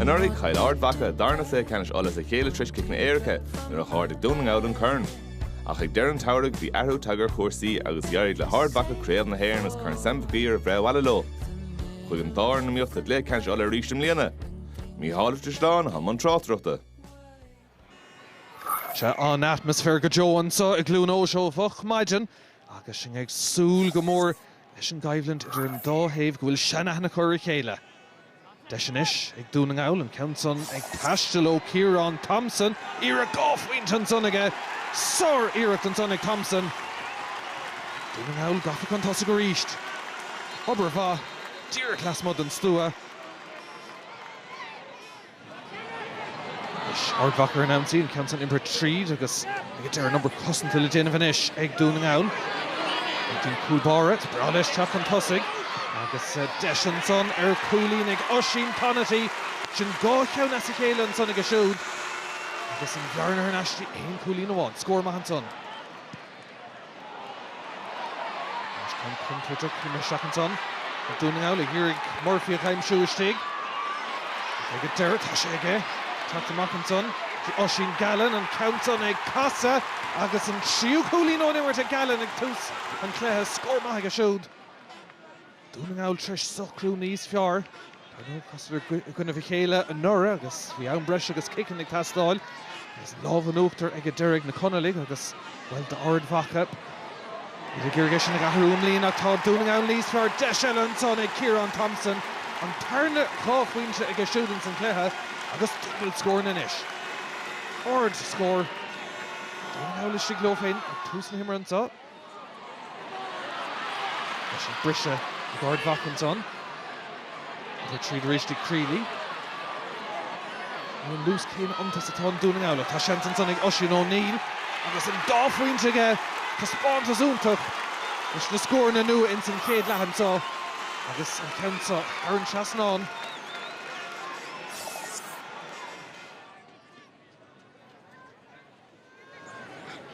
Anuraidh, chaill Ard Mhacha darna cluiche ceannais Uladh as a chéile tar éis ciceanna éirice nuair a d'ardaigh Dún na nGall an corn. Ach ag deireadh an tsamhraidh, bhí athrú tagtha ar chúrsaí agus d'éirigh le hArd Mhacha Craobh na hÉireann agus Corn Sam Mhig Uidhir a bhreith abhaile leo. Chuig an dá fhoireann a mbíodh sa gcluiche ceannais Uladh arís i mbliana. Mícheál Ó Drisleáin, i mbun tráchtaireachta. Tá an atmaisféar go deo anseo i gCluain Eois ó mhoch maidin agus sinn ag súil go mór leis an gcoimhlint idir an dá thaobh go bhfuil seanaithne acu ar a chéile. Deis anois ag Dún na nGall an ceann san ag taisteal ó Ciarán Thompson. Iarracht dhá phointe ansan aige. Sáriarracht ansan ag Thompson. Dún na nGall gafa chun tosaigh arís. Obair mhaith díreach lasmuigh den stua. Anois Ard Mhacha ar an ionsaí, an ceann san iompartha tríd agus ag an deireadh an obair cosanta le déanamh anois ag Dún na nGall. An cúl báire, is breá leis teacht chun tosaigh agus deis ansan ar cúilín ag Oisín Conaty, sin dhá cheann as a chéile ansan aige siúd agus an bhearna thar n-ais go dtí aon chúilín amháin. Scór maith ansan. Deis ceann contúirteach imithe isteach ansan ag Dún na nGall ag iarraidh Murphy a aimsiú istigh. Ag an deireadh tá sé ag teacht amach ansan. Oisín Gallen an ceann san ag casadh agus an tríú cúilín ón imirt ag Gallen ag tús an chluiche. Scór maith aige siúd. Dún na nGall tar éis socrú níos fearr. Dar ndóigh, chasadar i gcoinnibh a chéile anuraidh agus bhí am breise agus ciceanna ag teastáil. Agus an lámh in uachtar ag an deireadh ag na Conallaigh agus, bhuel, tá Ard Mhacha ag iarraidh é sin a athrú i mbliana ach tá Dún na nGall níos fearr. Deis eile ansan ag Ciarán Thompson. An tarna dhá phointe aige siúd ins an chluiche agus dúbailt scóranna anois. Ardscór. Dún na nGall istigh leo féin ag tús na himeartha anso. Tá sí briste ag Ard Mhacha ansan. Rith tríd arís ag Crealey. Níl an luas céanna iontu is atá i nDún na nGall ach tá seans ansan ag Oisín O'Neill agus an dá phointe aige. Taispeántas iontach leis na scóranna nua ins an chéad leath anso agus an ceann seo thar an trasnán.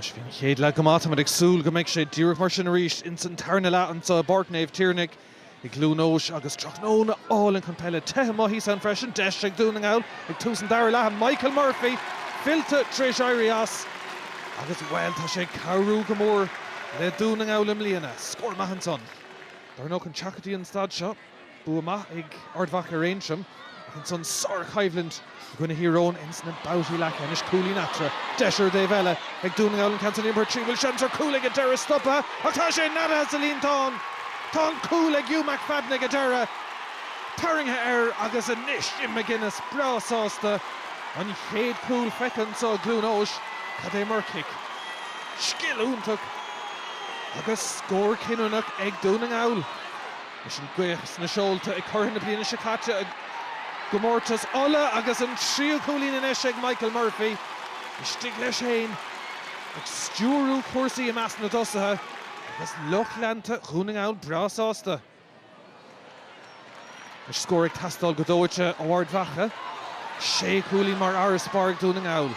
Anois, bhí an chéad leath go maith. Táimid ag súil go mbeidh sé díreach mar sin arís ins an tarna leath anso i bPáirc Naomh Tiarnaigh i gCluain Eois agus tráthnóna álainn chun peile, te go maith thíos ann freisin. Deis ag Dún na nGall ag tús an dara leatha. Michael Murphy fillte tar éis éirí as agus, bhuel, tá sé ag cabhrú go mór le Dún na nGall i mbliana. Scór maith ansan. Dar ndóigh, ag teacht go dtí an staid seo. Bua maith ag Ard Mhacha ar Aontroim ach ansan sár-choimhlint i gcoinne Thír Eoghain ins na babhtaí leathcheannais. Cúilín eatarthu. Deis ar an dtaobh eile ag Dún na nGall an ceann san imeartha tríd. Bhfuil seans ar chúl ag an deireadh stoptha ach tá sé neadaithe sa líontán. Tá an cúl ag Hugh McFadden ag an deireadh. Tarraingthe air agus anois Jim McGuinness breá sásta. An chéad cúl feicthe anso i gCluain Eois. Cad é mar chic. Scil iontach agus scór cinniúnach ag Dún na nGall. Leis an gaoth sna seolta ag curaidh na bliana seo caite i gcomórtas Uladh agus an tríú cúilín anois ag Michael Murphy, istigh leis féin ag stiúrú cúrsaí i measc na dtosaithe agus lucht leanta Dhún na nGall breá sásta leis. Scór ag teastáil go dóite ó Ard Mhacha, sé chúilín mar fharasbarr ag Dún na nGall.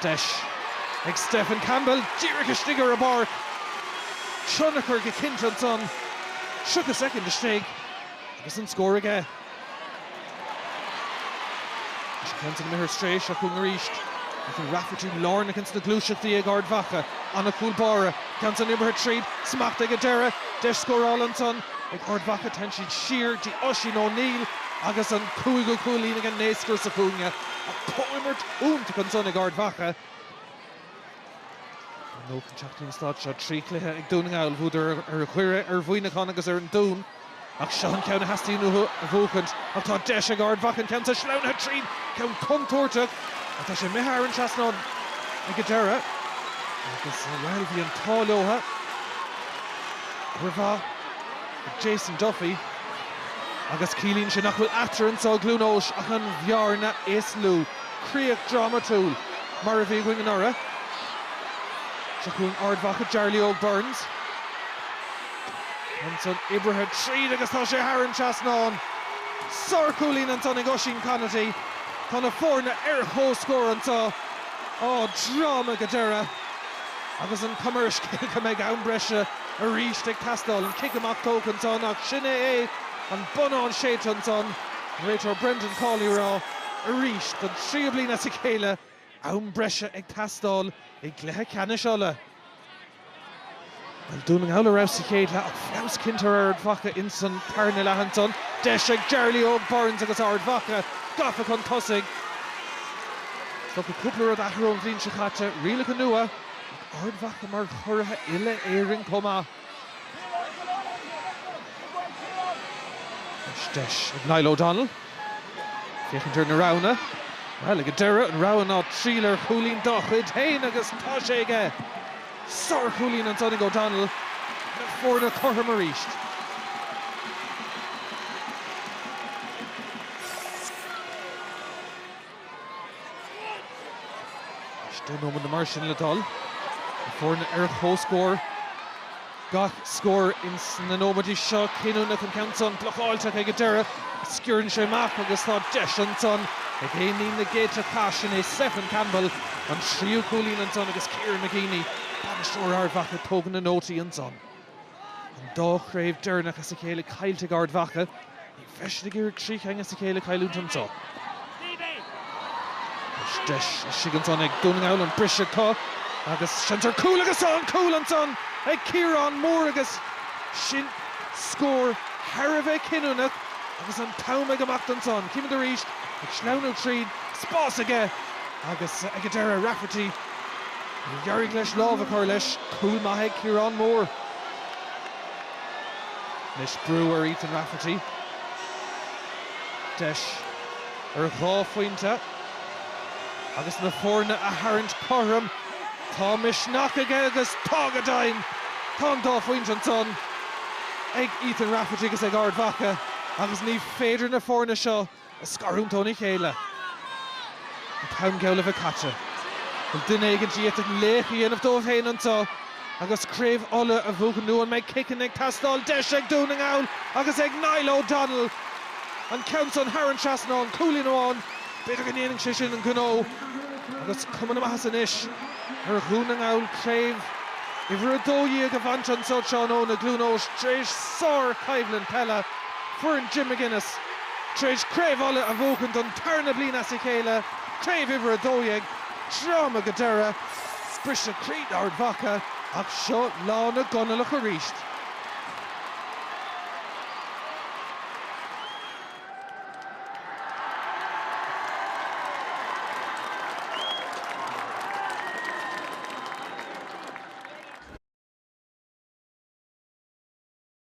Deis ag Stefan Campbell díreach istigh ar an bpáirc. Tionchar go cinnte ansan. 30 soicind istigh agus an scór aige. Tá sé céanna na micheart tar éis a chúngú arís. Ethan Rafferty lárnach ins na gluaiseachtaí ag Ard Mhacha. Ana chúl báire. Ceann san imeartha tríd. Smacht ag an deireadh. Deis scórála ansan ag Ard Mhacha. Téann siad siar dtí Oisín O'Neill. Agus an cúigiú cúilín ag an naoscaire sa chúinne ach comhimirt iontach ansan ag Ard Mhacha. Ar ndóigh, chun teacht dtí an stáitse seo, trí chluiche ag Dún na nGall. Bhuadar ar Dhoire, ar Mhuineachán agus ar an Dún. Ach seo an ceann a theastaíonn uathu a bhuachaint. Ach tá deis ag Ard Mhacha an ceann san sleamhnaithe tríd. Ceann contúirteach ach tá sé imithe thar an trasnán ag an deireadh. Agus, bhuel, bhí an t-ádh leotha. Jason Duffy Agus ciallaíonn sé nach bhfuil eatarthu anso i gCluain Eois ach an bhearna is lú. Críoch dhrámatúil mar a bhí againn anuraidh. Seo chugainn Ard Mhacha, Jarly Óg Burns. Ansan oibrithe tríd agus tá sé thar an trasnán. Sárchúilín ansan ag Oisín Conaty. Tá na foirne ar chomhscór anso. Á, dráma go deireadh. Agus an chuma air go mbeidh am breise. arís ag teastáil. An cic amach tógtha ansan ach sin é é, an bonnán séidte ansan. An réiteoir Brendan Cawley ag rá arís don tríú bliain as a chéile, am breise ag teastáil i gcluiche ceannais Uladh. Bhuel, Dún na nGall ar fheabhas sa chéad leath ach feabhas cinnte ar Ard Mhacha insan tarna leath ansan. Deis ag Jarly Óg Burns agus Ard Mhacha gafa chun tosaigh. Thiocfadh cúpla rud a athrú ón bhliain seo caite, rialacha nua, Ard Mhacha mar churaithe uile Éireann chomh maith. Anois deis ag Niall O Donnell féachaint ar na roghanna. Bhuel, ag an deireadh, an rogha ná triail ar chúilín dá chuid féin agus tá sé aige! Sár chúilín ansan ag O Donnell. Na foirne cothrom arís. Is dhá nóiméad nó mar sin le dul na foirne ar comhscór. Gach scór ins na nóiméidí seo cinniúnach, an ceann san blocáilte ach ag an deireadh. Sciorrann sé amach agus tá deis ansan ag éinín na gcéadta cath sin é Stephen Campbell an tríú cúilín ansan agus Kieran McGeeney, bainisteoir Ard Mhacha, tógann na nótaí ansan. An dá chraobh deireanach as a chéile caillte ag Ard Mhacha, ní bheidh siad ag iarraidh trí cheann as a chéile a chailliúint annso. Anois deis istigh ansan ag Dún na nGall an briseadh atá agus seans ar cúl agus tá an cúl ansan ag Ciarán Moore agus sin scór thar a bheith cinniúnach agus an t-am ag imeacht ansan. Chímid arís ag sleamhnú tríd, spás aige agus ag an deireadh Rafferty. Níor éirigh leis lámh a chur leis. Cúl maith ag Ciarán Moore. Anois brú ar Ethan Rafferty. Deis ar dhá phointe agus na foirne a tharraingt cothrom. Tá misneach aige agus tá go deimhin! Tá an dá phointe ansan ag Ethan Rafferty agus ag Ard Mhacha agus ní féidir na foirne seo a scarúint ó na chéile. An t-am geall a bheith caite. Bhfuil duine éigin díobh chun laoch a dhéanamh dóibh féin annso agus Craobh Uladh a bhuachan nó an mbeidh ciceanna ag teastáil, deis ag Dún na nGall agus ag Niall O Donnell an ceann san thar an trasnán, cúilín amháin, b'fhéidir go ndéanfaidh sé sin an gnó agus cuma na maitheasa anois ar Dhún na nGall Craobh Uimhir 12 a bhaint annso tráthnóna, i gCluain Eois, tréis sár-choimhlint peile. Foireann Jim McGuinness tar éis Craobh Uladh a bhuachan don tarna bliain as a chéile, Craobh uimhir 12. Dráma go deireadh. Briseadh croí d'Ard Mhacha ach seo lá na gConallach arís.